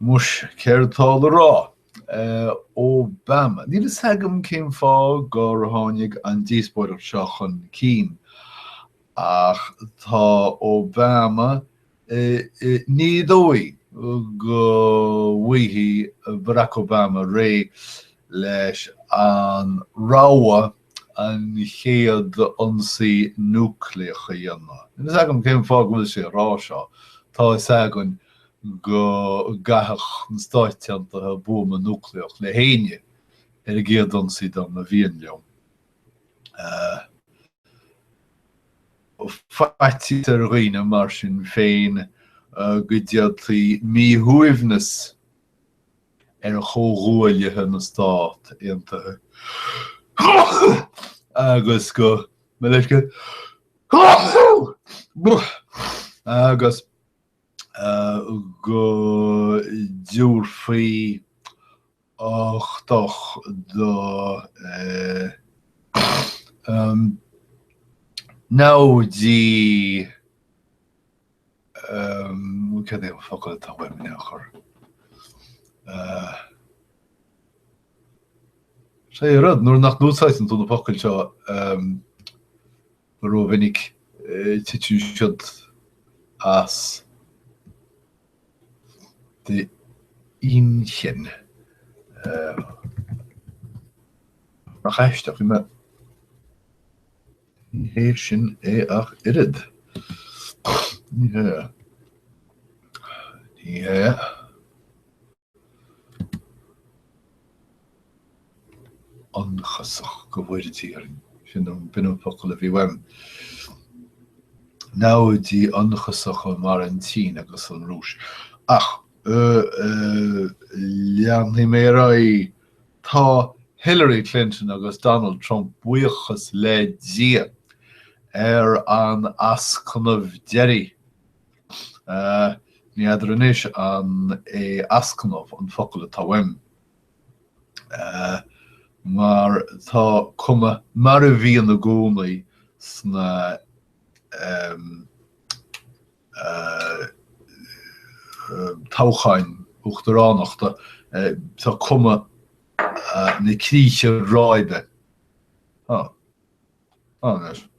Muis, céard atá le rá? Obama. Níl fhios agam cén fáth gur tháinig an díospóireacht seo chun cinn, ach tá Obama ní dóigh go bhfaighidh Barack Obama réidh leis an rogha an chéad ionsaí núicléach a dhéanamh. Níl fhios agam cén fáth go bhfuil sé ag rá seo, tá fhios againn go gcaitheadh na Stáit Aontaithe buama núicléach le héinne ar an gcéad ionsaí dá mba mhian leo. Faitíos ar dhaoine mar sin féin go dtéaltaí míshuaimhneas ar chomhghuaillithe na Stát Aontaithe agus go mbeis agus go dtabharfaí uchtach do namhaidí. Cad é an focal atá uaim in aon chor? Sea, an rud, nuair nach n-úsáideann tú na focail seo rómhinic, titeann siad as d'inchinn. Nach aisteach í mé? Ní hé sin é ach oiread. Ní hea. Ní hea. ionchasach go bhfóire Dia orainn. Sin an focal a bhí uaim. Namhaidí ionchasacha mar an tSín agus an Rúis. Ach leanfaidh mé ar aghaidh Tá Hillary Clinton agus Donald Trump, buíochas le Dia, ar an ascnamh deiridh, ní fheadar anois an é ascnamh an focal atá uaim, mar tá cuma mar a bhíonn i gcónaí sna. toghcháin uachtaránachta, tá cuma na críche ráibe anois air.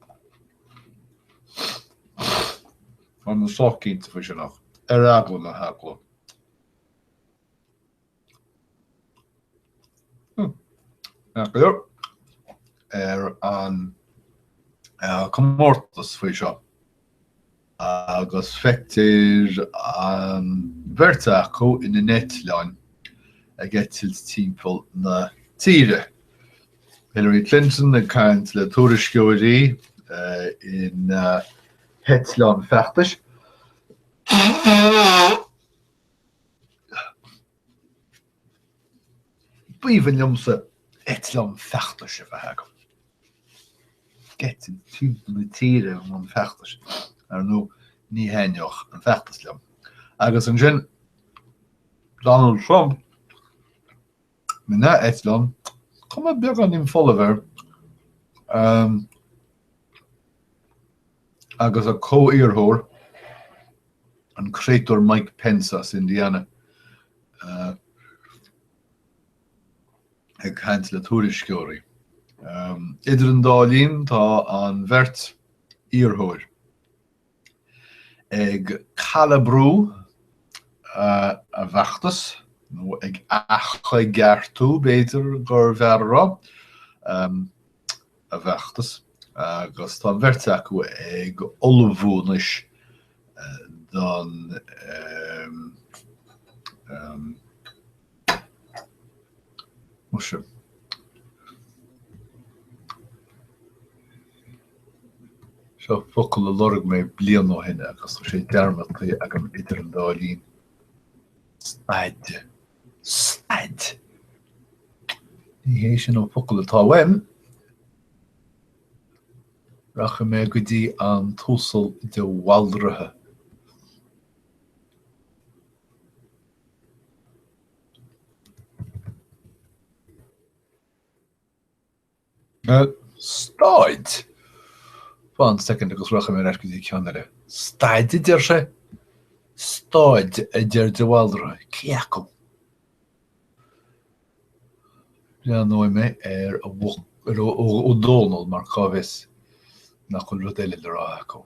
Tá mé sách cinnte faoi sin ach, ar eagla na heagla. ar an gcomórtas faoi seo agus feictear an bheirt acu ina n-eitleáin ag eitilt timpeall na tíre. Hillary Clinton ag caint le tuairisceoirí ina heitleán feachtais. B'aoibhinn liomsa eitleán feachtais a bheith agam. Ag eitilt timpeall na tíre i mbun feachtais. Ar ndóigh, ní thaitneodh an feachtas liom. Agus ansin, Donald Trump! ina eitleán, cuma beagáinín folamh air, agus a chomhiarrthóir, an créatúr Mike Pence as Indiana, ag caint le tuairisceoirí. Idir an dá linn, tá an bheirt iarrthóir. Ag calabrú a bhfeachtas, nó ag athchoigeartú, b'fhéidir gurbh fhearr a rá, a bhfeachtas, agus tá an bheirt acu ag ullmhú anois don. Seo focal a lorg mé bliain ó shin agus tá sé dearmadta agam idir an dá linn, staid. Staid! Ní hé sin an focal atá uaim. Rachaidh mé go dtí an tUasal de Bhaldraithe. Staid! Fan soicind agus rachaidh mé ar ais go dtí ceann eile. Staid a deir sé? Staid a deir de Bhaldraithe? Cé acu? Breathnóidh mé ar Ó Dónaill mar cá bhfios nach bhfuil rud eile le rá acu.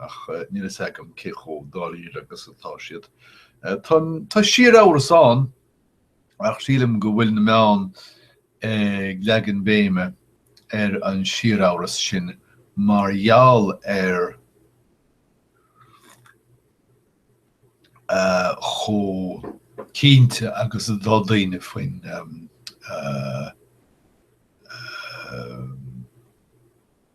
ach níl fhios agam cé chomh dáiríre agus atá siad. Tá síor-amhras ann, ach sílim go bhfuil na meáin ag leagan béime ar an síor-amhras sin mar gheall ar chomh cinnte agus atá daoine faoin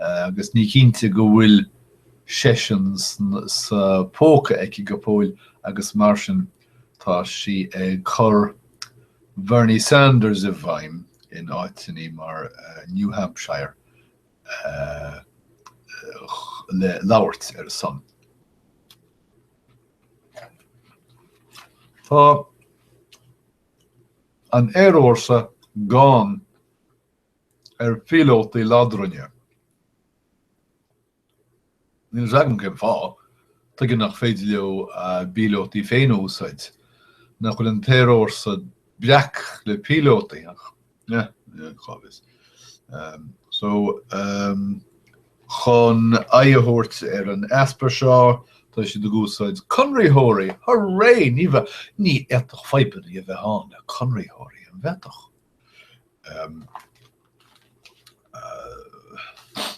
agus níl cinnte go bhfuil seisean sa phóca aici go fóill agus mar sin tá sí ag cur Bernie Sanders i bhfeidhm in áiteannaí mar New Hampshire le labhairt ar a son. Tá an t-aerfhórsa gann ar phíolótaí ladrainn. Níl a fhios agam cén fáth. Tuige nach féidir leo a bpíolótaí féin a úsáid? Nach bhfuil an t-aerfhórsa breac le píolótaí? Ach cá bhfios. So, chun aghaidh a thabhairt ar an easpa seo, tá siad ag úsáid conraitheoirí! Hurray! Ní bheadh, ní fhéadfadh fadhbanna a bheith ann le conraitheoirí, an bhféadfadh?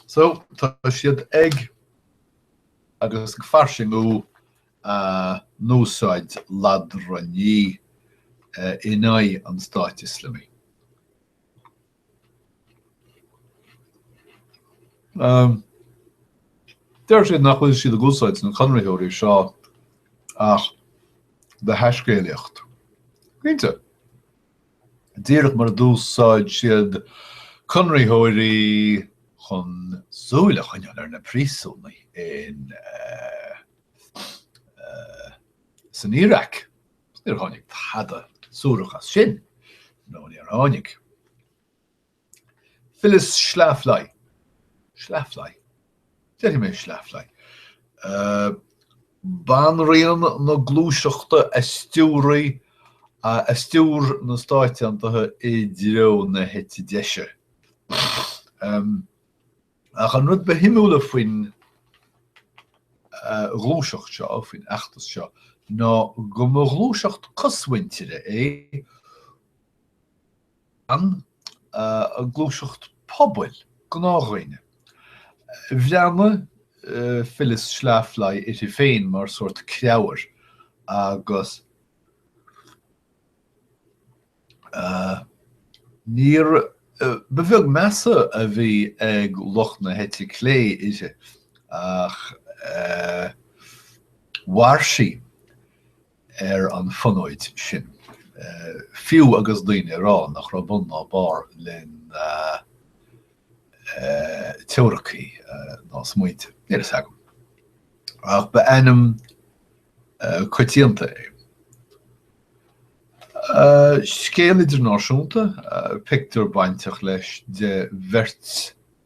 So, tá siad ag agus ag fairsingiú úsáid ladrann in aghaidh an Stáit Ioslamaigh. Deir siad nach bhfuil siad ag úsáid na conraitheoirí seo ach do thaiscéalaíocht. Cinnte. díreach mar a d'úsáid siad conraitheoirí chun súil a choinneáil ar na príosúnaigh insan Iaráic. Níor tháinig tada suarach as sin, ó níor tháinig. Phyllis Schlafly, Schlafly? déarfaidh mé Schlafly, banríon na gluaiseachta a stiúraigh a stiúir na Stáit Aontaithe i dtreo na heite deise. Ach an rud ba shuimiúla faoin ghluaiseacht seo, faoin fheachtas seo, ná go mba ghluaiseacht chosmhuintire é, gluaiseacht pobail, gnáthdhaoine. Bhreathnaigh Phyllis Schlafly uirthi féin mar sórt creabhair agus níor, ba bheag meas a bhí ag lucht na heite clé uirthi ach mhair sí. ar an fhonóid sin, fiú agus daoine ag rá nach raibh bun ná barr lena teoiricí ná smaointe. Níl a fhios agam, ach ba ainm coitianta í. Scéal idirnáisiúnta, pictiúr bainteach leis de bheirt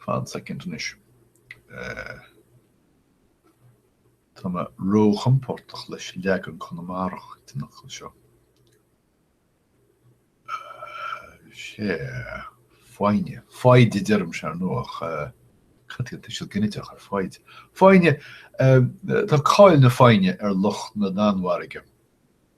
Fan second anois. Tá mé ró-chompordach leis an leagan Conamarach den fhocal seo. Sea, foighne. Foighid a deirimse, ar ndóigh. Cad é tuiseal ginideach ar foighid? Foighne! Tá cáil na foighne ar lucht na Danmhairge.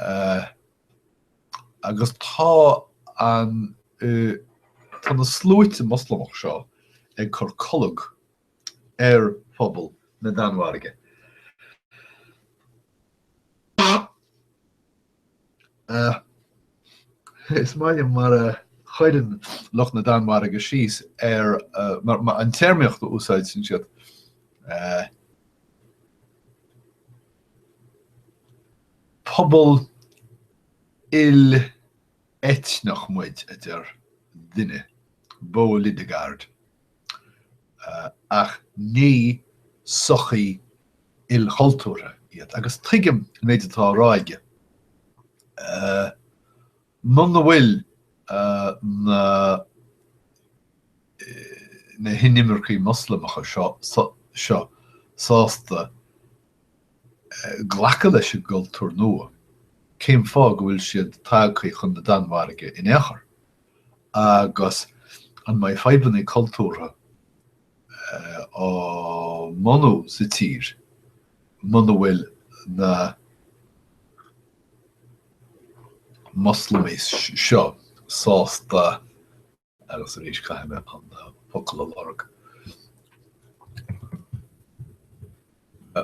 eh, agus tá an, eh, tá na sluaite Moslamach seo ag cur colg ar phobal na Danmhairge. Eh, is maith liom mar a chuireann lucht na Danmhairge síos ar, eh, mar, mar an téarmaíocht a úsáidseann siad, eh, Pobal il-eitneach muid, a deir duine, Bo Lidegaard, ach ní sochaí ilchultúrtha iad. Agus tuigim an méid atá á rá aige. Muna bhfuil na hinimircigh Moslamacha seo sásta glacadh leis an gcultúr nua, cén fáth go bhfuil siad tagtha chun na Danmhairge in aon chor? Agus an mbeidh fadhbanna cultúrtha á mbunú sa tír muna bhfuil na Moslamaigh seo sásta, agus arís caithfidh mé an focal a lorg,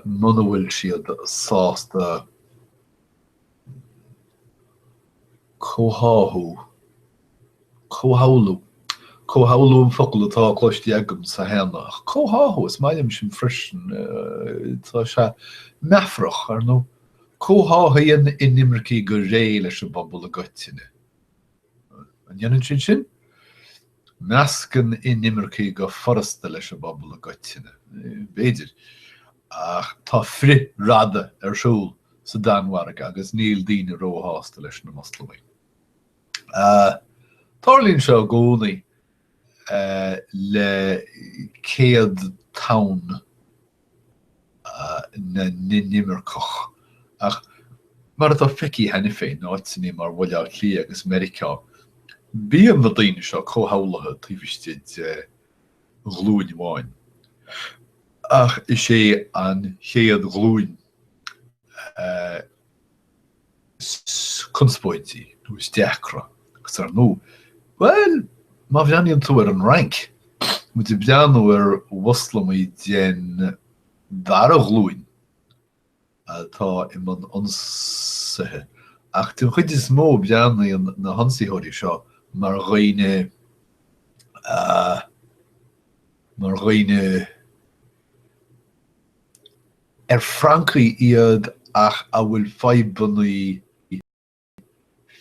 muna bhfuil siad sásta comhtháthú, comhshamhlú, comhshamhlú an focal atá cloiste agamsa cheana, ach comhtháthú, is maith liom sin freisin, tá sé meafarach, ar ndóigh, comhtháthaíonn inimircigh go réidh leis an bpobal i gcoitinne. An ndéanann siad sin? Meascann inimircigh go furasta leis an bpobal i gcoitinne. B'fhéidir. Ach tá frithradadh ar siúl sa Danmhairg agus níl daoine ró-shásta leis na Moslamaigh. Tarlaíonn seo i gcónaí le chéad tonn na n-inimirceach. Ach, mar atá feicthe cheana féin in áiteanna mar Bhaile Átha Cliath agus Meiriceá, bíonn na daoine seo comhshamhlaithe taobh istigh de ghlúin amháin. Ach is é an chéad ghlúin a. is conspóidí nó is deacra agus ar ndóigh, bhuel, má bhreathnaíonn tú ar an Fhrainc, muid ag breathnú ar Mhoslamaigh den dara ghlúin atá i mbun ionsaithe, ach den chuid is mó baineann na hionsaitheoirí seo mar dhaoine, ah, mar dhaoine, ar Francaigh iad ach a bhfuil fadhbanna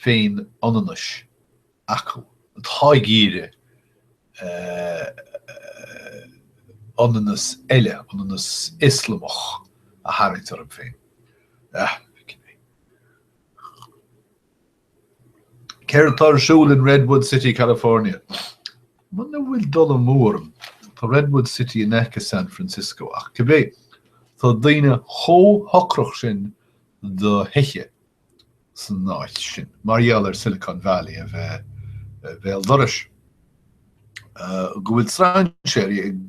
féin-ionannais acu, atá ag iarraidh ionannas eile, ionannas Ioslamach, a tharraingt orthu féin. Céard atá ar siúl in Redwood City, California? Muna bhfuil dul amú orm, tá Redwood City in aice San Francisco, ach cibé, tá daoine chomh hocrach sin do thithe san áit sin, mar gheall ar Silicon Valley a bheith béal dorais, go bhfuil strainséirí ag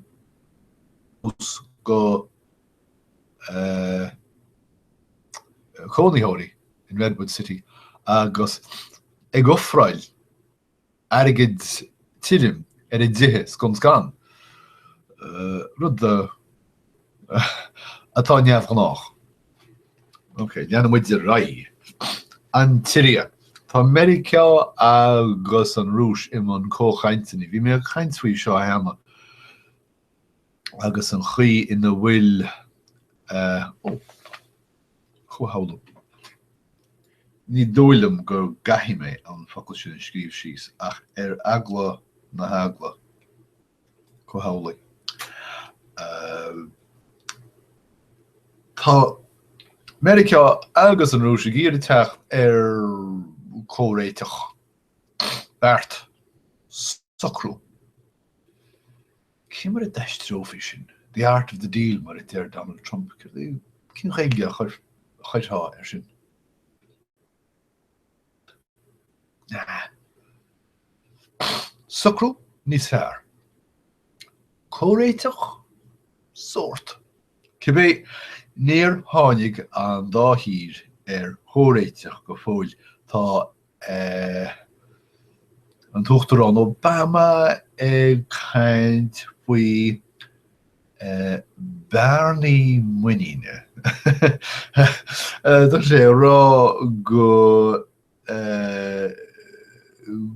dul suas go. cónaitheoirí in Redwood City agus ag ofráil airgead tirim ar a dtithe scun scan, rud atá neamhghnách. Ok, leanann muid ar aghaidh. An tSiria. Tá Meiriceá agus an Rúis i mbun comhchainteanna. Bhí mé ag caint faoi seo cheana agus an chaoi ina bhfuil comhshamhlú. Ní dóigh liom go gcaithfidh mé an focal sin a scríobh síos, ach ar eagla na heagla, comhshamhlú. Tá Meiriceá agus an Rúis ag iarraidh teacht ar comhréiteach, beart. socrú. Cé mar a d'aistreofaí sin? The art of the deal, mar a deir Donald Trump. Cén Ghaeilge a chuirfeá air sin? socrú níos fearr. Comhréiteach? Sórt. Cibé, níor tháinig an dá thír ar chomhréiteach go fóill. Tá. ea an tUachtarán Obama ag caint faoi bhearnaí muiníne. Tá sé ag rá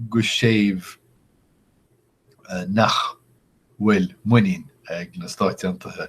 go séimh nach bhfuil muinín ag na Stáit Aontaithe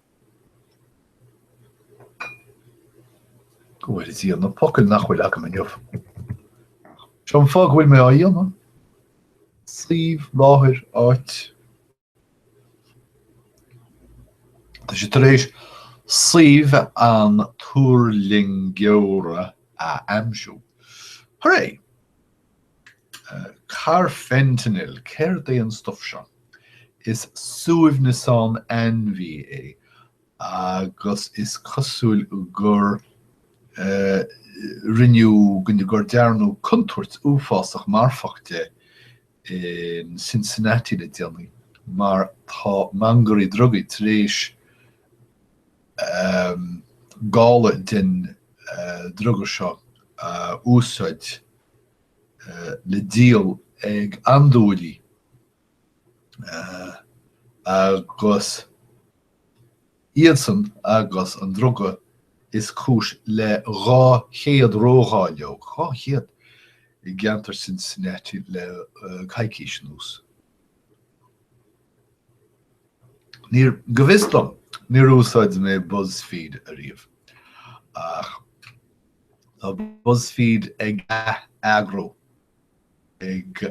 Go bhfóire Dia, na focail nach bhfuil agam inniu. Seo an fáth go bhfuil mé á dhéanamh. Suíomh, láthair, áit. Tá sé tar éis suíomh an tuirlingeora a aimsiú. Hooray! Carfentanil, céard é an stuf seo? Is suaimhneasán ainmhí é agus is cosúil gur rinneadh, go, gur dearnadh contúirt uafásach marfach de in Cincinnati le déanaí mar tá mangairí drugaí tar éis gála den druga seo a úsáid le díol ag andúiligh agus iadsan agus an druga is cúis le 200 ródháileog, 200! i gceantar Cincinnati le coicís anuas. Níor, go bhfios dom, níor úsáid mé Buzzfeed ariamh, ach tá Buzzfeed ag ath-eagrú, ag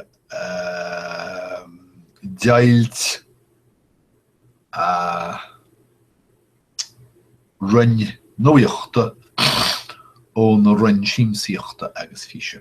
deighilt a roinn nuaíochta óna roinn siamsaíochta agus físe.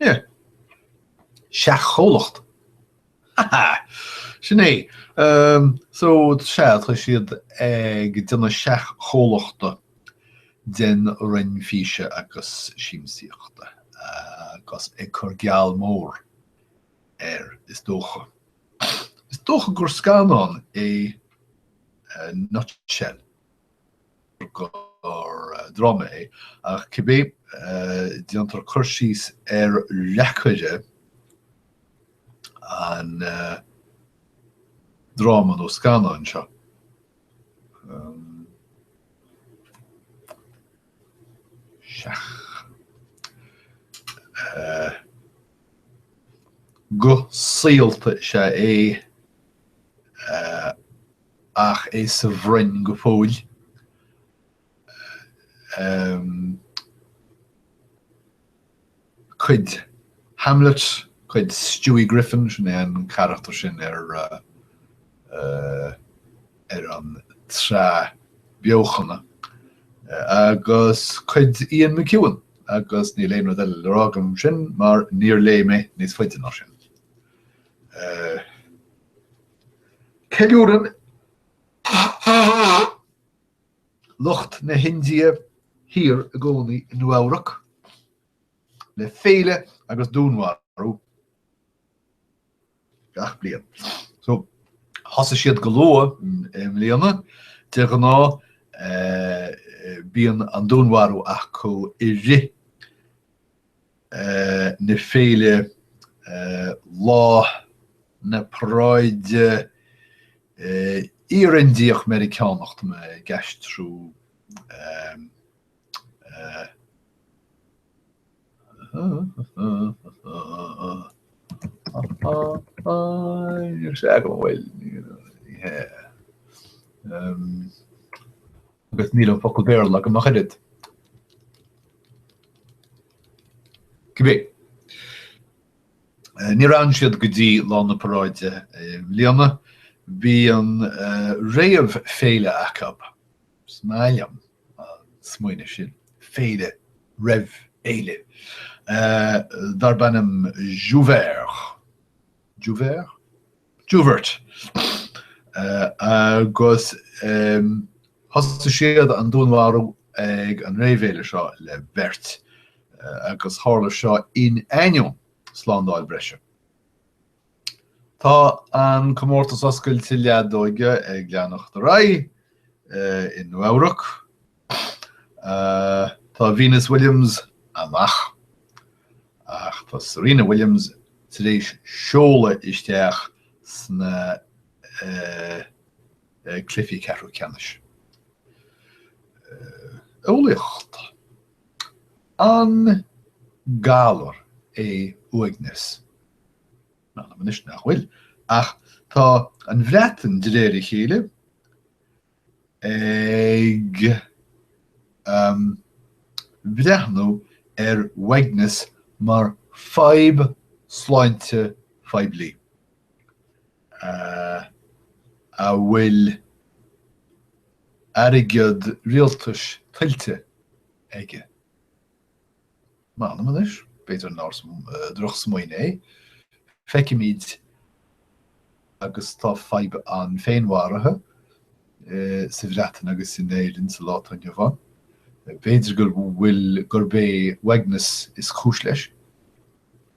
Yeah! Seach-chomhlacht? Ha ha! Sin é. So, sea, tá siad ag déanamh seach-chomhlachta den Roinn Físe agus Siamsaíochta agus ag cur geall mór air, is dócha. Is dócha gur scannán é Nutshell. nó dráma é, ach cibé, déantar cur síos ar reacaire an dráma nó scannáin seo. Guth saolta is ea é ach é sa bhroinn go fóill. cuid Hamlet, cuid Stewie Griffin, sin é an carachtar sin ar an tsraith beochana, agus cuid Ian McEwan, agus níl aon rud eile le rá agam faoi sin mar níor léigh mé níos faide ná sin. Ceiliúrann lucht na hIndia Thiar i gcónaí i Nua-Eabhrac le féile agus dúnmharú gach bliain. So thosaigh siad go luath i mbliana, de ghnáth bíonn an dúnmharú acu i rith na Féile Lá na Paráide Iar-Indiach Meiriceánach Tá mé ag aistriú Níl sé agam a bhfuil. agus níl an focal Béarla agam ach oiread. Cibé, níor fhan siad go dtí lá na paráide i mbliana, bhí an réamhfhéile acu, is maith liom an smaoineamh sin, féile roimh fhéile, darb ainm Jouvert. Jouvert? Jouvert, agus thosaigh siad an dúnmharú ag an réamhfhéile seo le beirt, agus tharla seo in ainneoin slándáil breise. Tá an Comórtas Oscailte Leadóige ag leanacht ar aghaidh i Nua-Eabhrac, Tá Venus Williams amach, ach tá Serena Williams tar éis seoladh isteach sna cluichí ceathrú ceannais. Eolaíocht, An galar é uaigneas? M'anam anois nach bhfuil, ach tá an Bhreatain, de réir a chéile, Ag breathnú ar uaigneas mar fadhb sláinte phoiblí, a bhfuil airgead rialtais tuillte aige, M'anam anois, b'fhéidir nár dhrochsmaoineamh é, feicimid agus tá fadhb an féinmharaithe sa Bhreatain agus in Éirinn sa lá atá inniu ann. B'fhéidir go bhfuil gurb é uaigneas is cúis leis.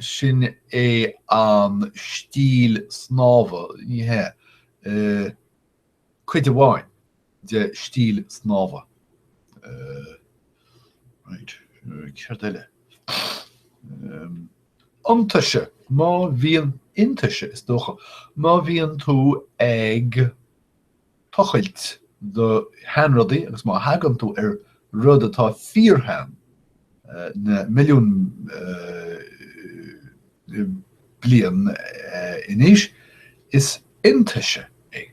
Sin é an stíl snámha, ní hea, cuid amháin de stíl snámha. Raight, céard eile? Iontaise, má bhíonn, iontaise is dócha, má bhíonn tú ag. tochailt do sheanrudaí agus má thagann tú ar rud atá fíorshean, na milliúin bliain in aois, is iontaise é.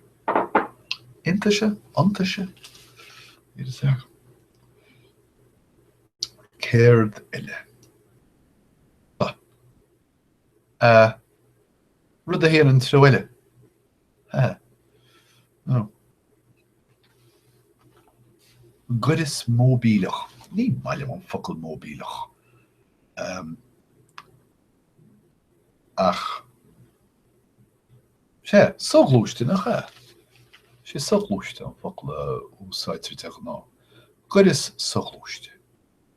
Iontaise? Iontaise? Céard eile? Rud a théann an treo eile. Gaireas móibíleach, ní maith liom an focal móibíleach, ach is é soghluaiste, nach ea, is é soghluaiste an focal a úsáidtear de ghnáth, gaireas soghluaiste.